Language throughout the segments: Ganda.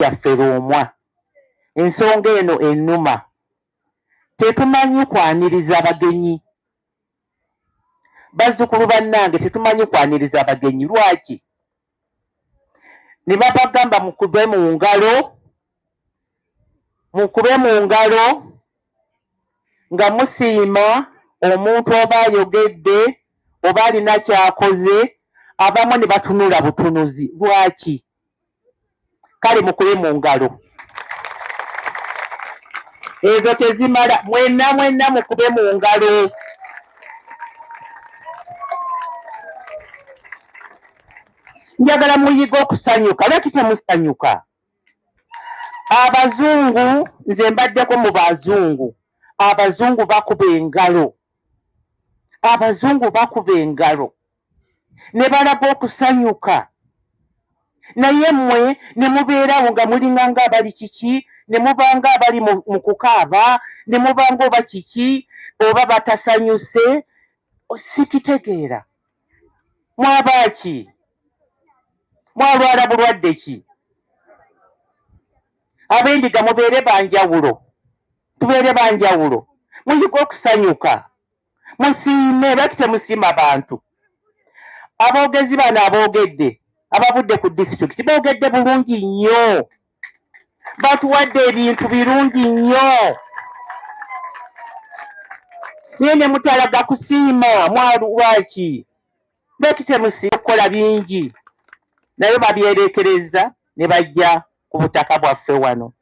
yaffe Lwomwa. Ensonga eno ennuma. Tetumanyi kwaniriza bagenyi. Bazzukulu bannange tetumanyi kwaniriza bagenyi. Lwaki? Ne babagamba mukube mu ngalo, mukube mu ngalo nga musiima omuntu oba ayogedde oba alina ky'akoze, abamu ne batunula butunuzi. Lwaki? kale mukube mu ngalo ezo tezimala mwenna mwenna mukube mu ngalo njagala muyige okusanyuka lwaki temusanyuka abazungu nze mbaddeko mu bazungu abazungu bakuba engalo abazungu bakuba engalo ne balaga okusanyuka naye mmwe ne mubeerawo nga mulinga ng'abali kiki ne mubanga abali mu kukaaba ne mubanga oba kiki oba batasanyuse sikitegeera mwaba ki mwalwala bulwadde ki ab'endiga mubeere banjawulo tubeere banjawulo muyige okusanyuka musiime lwaki temusiima bantu aboogezi bano aboogedde abavudde ku disitulikiti boogedde bulungi nnyo batuwadde ebintu birungi nnyo naye ne mutalaga kusiima mwalwaki lwaki temusiima okukola bingi naye babyerekereza ne bajja ku butaka bwaffe wano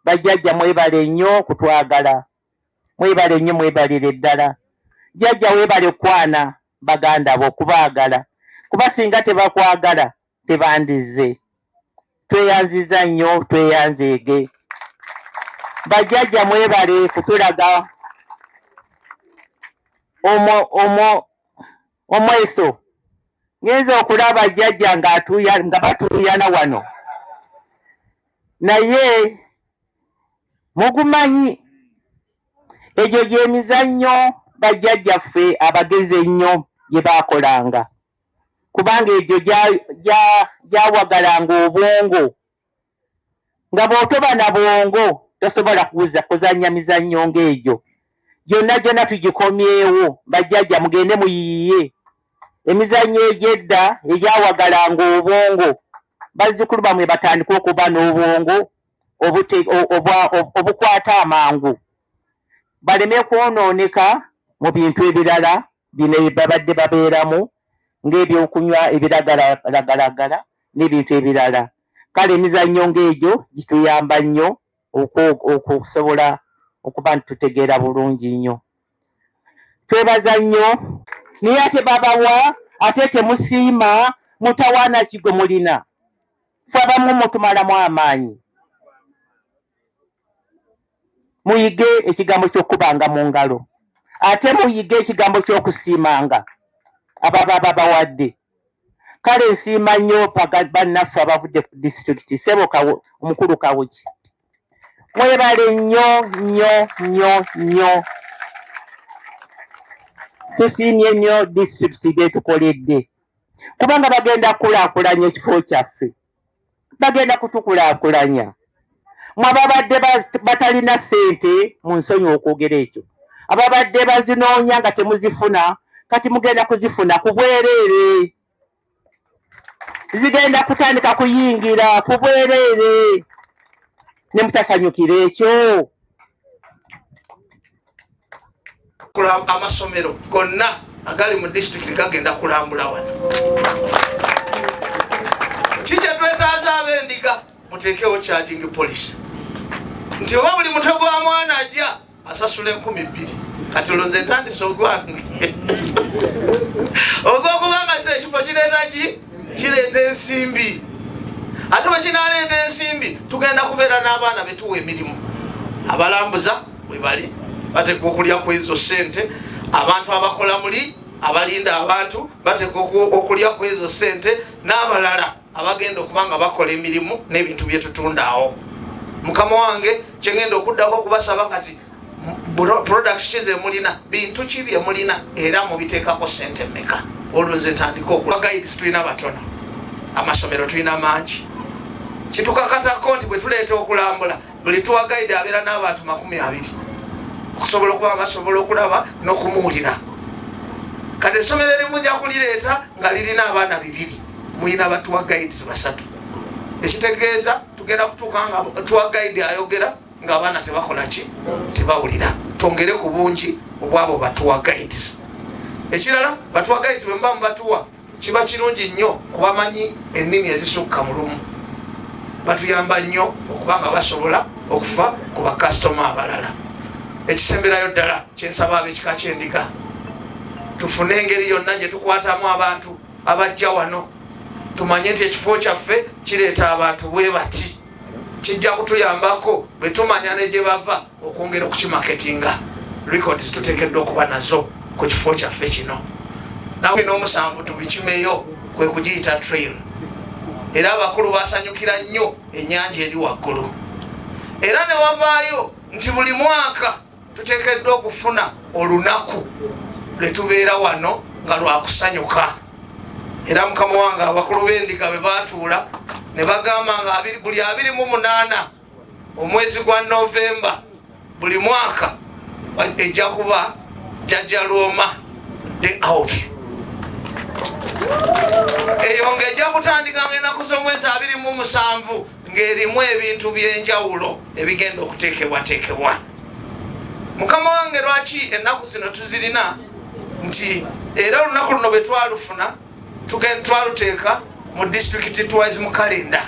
bajjajja mwebale nnyo okutwagala mwebale nnyo mwebalire ddala jjajja webale kwana baganda bo okubaagala kuba singa tebakwagala tebandizze tweyanziza nnyo tweyanzeege bajjajja mwebale kutulaga omo omo Omweso, ngenze okulaba jjajja nga batuuyana wano naye mugumanyi egyo gyemizannyo bajjajjaffe abagezi ennyo gye baakolanga kubanga egyo gyawagalanga obwongo nga bw'otoba na bwongo tosobola kuwuza kuzannya mizannyo ng'egyo gyonna gyonna tugikomyewo bajjajja mugende muyiiye emizannyo egy'edda egyawagalanga obwongo bazzukulu bamwe batandika okuba n'obwongo obukwata amangu baleme kwonooneka mu bintu ebirala bino babadde babeeramu ng'ebyokunywa ebiragalagalagala n'ebintu ebirala kale emizannyo ng'egyo gituyamba nnyo okusobola okuba nti tutegeera bulungi nnyo twebaza nnyo naye ate babawa ate temusiima mutawaana ki gwe mulina fe abamu mutumalamu amaanyi Muyige ekigambo ky'okukubanga mu ngalo, ate muyige ekigambo ky'okusiimanga abo ababa bawadde. Kale nsiima nnyo bannaffe abavudde ku disitulikiti, ssebo omukulu Kawuki, mwebale nnyo nnyo nnyo nnyo. Tusiimye nnyo disitulikiti by'etukoledde kubanga bagenda kukulaakulanya ekifo kyaffe. bagenda kutukulakulanya mwababadde batalina sente mu nsonyi okwogera ekyo ababadde bazinoonya nga temuzifuna kati mugenda kuzifuna ku bwereere zigenda kutandika kuyingira ku bwereere ne mutasanyukira ekyo amasomero gonna agali mu disitulikiti gagenda kulambula wano kikyetwetaaza abendiga muteekewo charging policy nti oba buli mutwe gwa mwana ajja asasula enkumi bbiri kati olwo nze ntandise ogwange ogwokubanga se ekifo kireeta ki kireeta ensimbi ate bwekinaleeta ensimbi tugenda kubeera n'abaana betuwa emirimu abalambuza webali bateekwa okulya ku ezo sente abantu abakola muli abalinda abantu bateekwa okulya ku ezo sente n'abalala abagenda okuba nga bakola emirimu n'ebintu bye tutundaawo mukama wange kyengenda okuddako okubasaba kati products ki zemulina bintu ki byemulina era mubiteekako sente meka olwo nze ntandika okula guides tulina batono amasomero tulina mangi kitukakatako nti bwetuleeta okulambula buli tuwagaide abeera n'abantu makumi abiri okusobola okuba basobola okulaba n'okumuwulira kati essomero erimu nja kulireeta nga lirina abaana bibiri mulina batuwagaides basatu ekitegeeza tugenda kutuuka nga tuwagaide ayogera ngaabaana tebakola ki tebawulira twongere ku bungi obwabo batuwagaides ekirala batuwagaides bwemuba mubatuwa kiba kirungi nnyo kubamanyi ennimi ezisukka mu lumu batuyamba nnyo okuba nga basobola okufa ku bakasitoma abalala ekisemberayo ddala kyensaba abekika kyendiga tufune engeri yonna gye tukwatamu abantu abajja wano tumanye nti ekifo kyaffe kireeta abantu bwe bati kijja kutuyambako bwe tumanya ne gye bava okwongera okukimaketinga records tuteekeddwa okuba nazo ku kifo kyaffe kino nawe n'omusanvu tubikimeyo kwe kugiyita trail era abakulu basanyukira nnyo ennyanja eri waggulu era ne wavaayo nti buli mwaka tuteekeddwa okufuna olunaku lwe tubeera wano nga lwakusanyuka era mukama wange abakulu b'endiga bwe baatuula ne bagamba nga buli abiri mu munaana omwezi gwa novemba buli mwaka ejja kuba jajja lwoma day out eyo nga ejja kutandika nga enaku z'omwezi abiri mu musanvu ng'erimu ebintu by'enjawulo ebigenda okuteekebwateekebwa mukama wange lwaki ennaku zino tuzirina nti era olunaku luno bwe twalufuna twaluteeka mu disitulikiti twice mu kalenda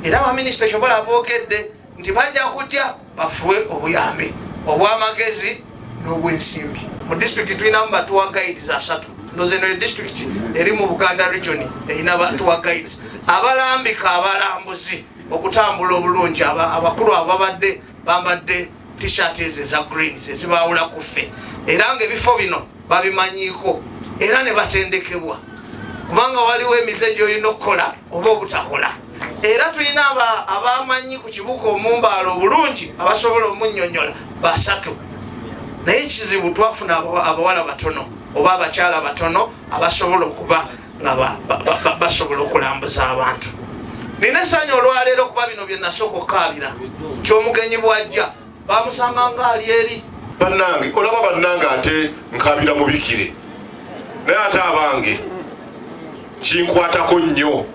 era baminisita kyobola aboogedde nti bajja kujja bafuwe obuyambi obw'amagezi n'obwensimbi mu disitulikiti tulinamu batuwa guides asatu nozeno e disitulikiti eri mu buganda region erina batuwa guides abalambika abalambuzi okutambula obulungi abakulu ababadde bambadde t-shirt ezo eza green zezibaawula ku ffe era nga ebifo bino babimanyiiko era ne batendekebwa kubanga waliwo emize gyolina okukola oba obutakola era tulina abamanyi ku kibuka omumbaala obulungi abasobola omunyonyola basatu naye kizibu twafuna abawala batono oba abakyala batono abasobola okuba nga basobola okulambuza abantu nina esanya olwaleero okuba bino byenasooka okukaabira nti omugenyi bwajja bamusanga nga ali eri bannange olaba bannange ate nkabira mubikire naye ate abange kinkwatako nnyo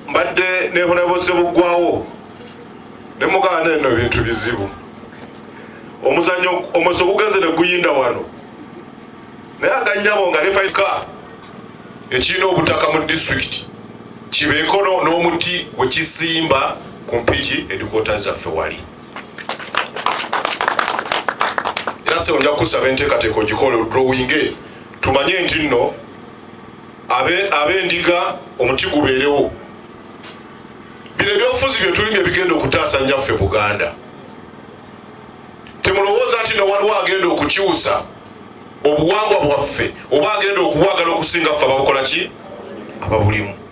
mbadde nehonaboze buggwawo ne muganda eno ebintu bizibu omuzanyo omweso gugenze ne guyinda wano naye aganyabo nga nefaika ekirina obutaka mu disitulikiti kibeeko n'omuti wekisimba ku mpiki edikoota zaffe wali era sebo nja kukusaba enteekateeka ogikole odrowinge tumanye nti nno ab'endiga omuti gubeerewo bino ebyobufuzi byetulimu ebigenda okutaasa nyaffe buganda temulowooza nti nowaliwo agenda okukyusa obuwangwa bwaffe oba agenda okuwagala okusinga ffe ababukola ki ababulimu